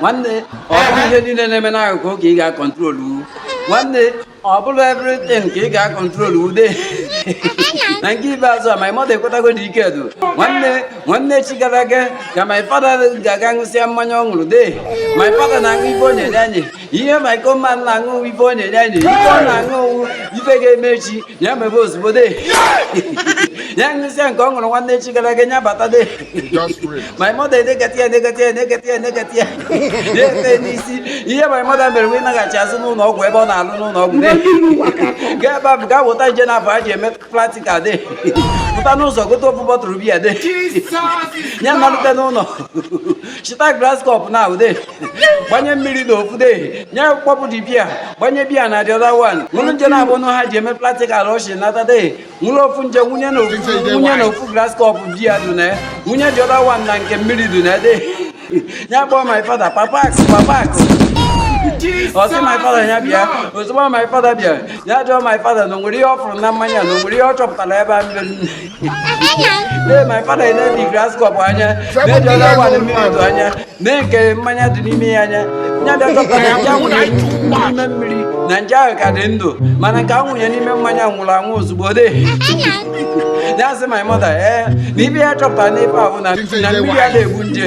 nwanne ọ bụ ihe niile na-eme n'akụkụ ka ị ga-akọntrolu nwanne ọ bụrụ everything ka ị ga-akọntrolu dee na nke ikpeazụ a my mother ekwetago na ike edu nwanne nwanne echi gara aga ka my father ga-aga ṅụsịa mmanya ọ ṅụrụ dee my father na-aṅụ ife onye nye anyị ihe my command na-aṅụ ife onye nye anyị ife ọ na-aṅụ ife ga-eme echi ya mebe ozugbo de ya ṅụsịa nke ọ ṅụrụ nwanne echi gara aga ya bata de my mother enekata ya enekata ya ya efe n'isi ihe my mother mere bụ ịnaghachi azụ n'ụnọ ọgwụ ebe ọ na-alụ n'ụnọ ọgwụ de gaa ebe ahụ gaa weta nje naabọ a ji eme practical de pụta n'ụzọ gote ofu bọtụrụ biya de ya nalute n'ụnọ chịta glass cup naabọ dee gbanye mmiri na ofu dee ya kpọpụ the biya gbanye biya na the other one wụrụ nje naabọ nụ a ji eme practical ọ chịnata dee wụrụ ofu nje wụnye na ofu wụnye na ofu glass cup biya dị na ya wụnye the other one na nke mmiri dị na ya dee ya kpọọ my father papa akụ papa akụ ọ sị my father ya bịa ozugbo my father bịa ya jụọ my father na o nwere ihe ọ fụrụ na mmanya na o nwere ihe ọ chọpụtara ebe a mmiri dee my father enee the glass cup anya na-ebi onye agwa na mmiri dị anya nee nke mmanya dị n'ime ya anya ya bịa chọpụta na nje a wụnye n'ime mmiri na nje ahụ ka dị ndụ mana nke a wụnye n'ime mmanya nwụrụ anwụ ozugbo de ya sị my mother ee na ife ya chọpụtara n'ife ahụ na na mmiri a na-egbu nje